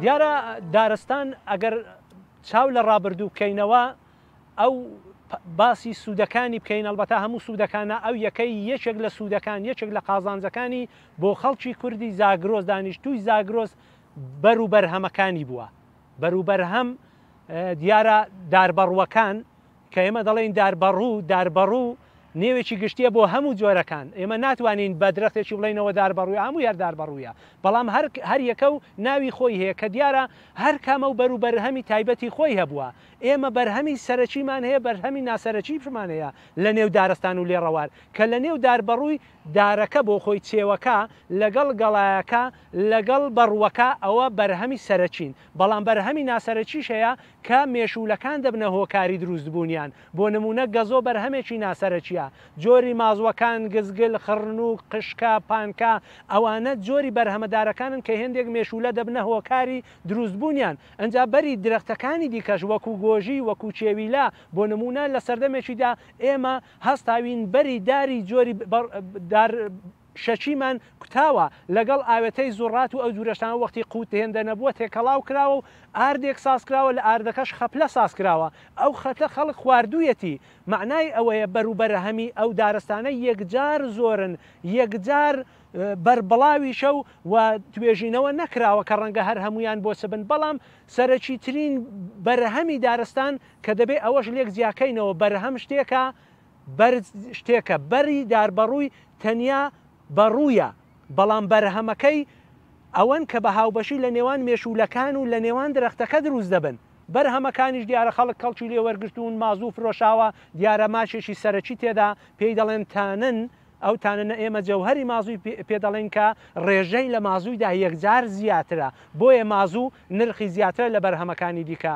دیارە دارستان ئەگەر چاو لە ڕابردوو بکەینەوە ئەو باسی سوودەکانی بکەین ئەلبەتا هەموو سوودەکانە ئەو یەکەی یەکێک لە سوودەکان یەکێک لە قازانجەکانی بۆ خەڵکی کوردی زاگرۆز دانیشتووی زاگرۆز بەر و بەرهەمەکانی بووە بەروبەرهەم دیارە داربەڕوەکان کە ئێمە دەڵێین داربەڕوو، داربەڕوو نێوێکی گشتییە بۆ هەموو جۆرەکان، ئێمە ناتوانین بە درەختێکی بڵێینەوە داربەڕووە، هەمووی هەر داربەڕوویە، بەڵام هەر هەر یەکە و ناوی خۆی هەیە، کە دیارە هەر کامە و بەر و بەرهەمی تایبەتی خۆی هەبووە، ئێمە بەرهەمی سەرەکیمان هەیە، بەرهەمی ناسەرەکیشمان هەیە لە نێو دارستان و لێڕەوار، کە لە نێو داربەڕووی دارەکە بۆ خۆی چێوەکە لەگەڵ گەڵایەکە لەگەڵ بەڕووەکە ئەوە بەرهەمی سەرەکین، بەڵام بەرهەمی ناسەرەکیش هەیە، کە مێشوولەکان دەبنە هۆکاری دروستبوونیان، بۆ نموونە گەزۆ بەرهەمێکی ناسەرەکییە، جۆری مازووەکان، گزگل، خڕنووک، قشکە، پانکا، ئەوانە جۆری بەرهەمە دارەکانن کە هێندێک مێشوولە دەبنە هۆکاری دروستبوونیان، ئنجا بەری درەختەکانی دیکەش وەکوو گۆژی، وەکوو کێویلە، بۆ نموونە لە سەردەمێکیدا ئێمە هەستاوین بەری داری جۆری دار، شەکیمان کوتاوە، لەگەڵ ئاوێتەی زوڕات و ئەو جورە شتانە وەختی قووت هێندە نەبووە تێکەڵاو کراوە و ئاردێک ساز کراوە لە ئاردەکەش خەپلە ساز کراوە ئەو خەتە خەڵک خواردوویەتی مەعنای ئەوەیە بەر و بەرهەمی ئەو دارستانە یەکجار زۆرن یەکجار بەربڵاویشە و وە توێژینەوە نەکراوە کە ڕەنگە هەر هەموویان بۆ چ بن بەڵام سەرەکیترین بەرهەمی دارستان کە دەبێ ئەوەش لێک جیاکەینەوە بەرهەم شتێکە بەرد شتێکە، بەری داربەڕووی تەنیا بەڕوویە، بەڵام بەرهەمەکەی ئەوەن کە بە هاوبەشی لە نێوان مێشوولەکان و لە نێوان درەختەکە دروست دەبن. بەرهەمەکانیش دیارە خەڵک کەڵکی لێ وەرگرتوون، مازوو فرۆشاوە، دیارە ماکێکی سەرەکی تێدا پێی دەڵێن تانن، ئەو تاننە ئێمە جەوهەری مازووی پێ دەڵێین کە ڕێژەی لە مازوویدا یەکجار زیاترە، بۆیە مازوو نرخی زیاترە لە بەرهەمەکانی دیکە.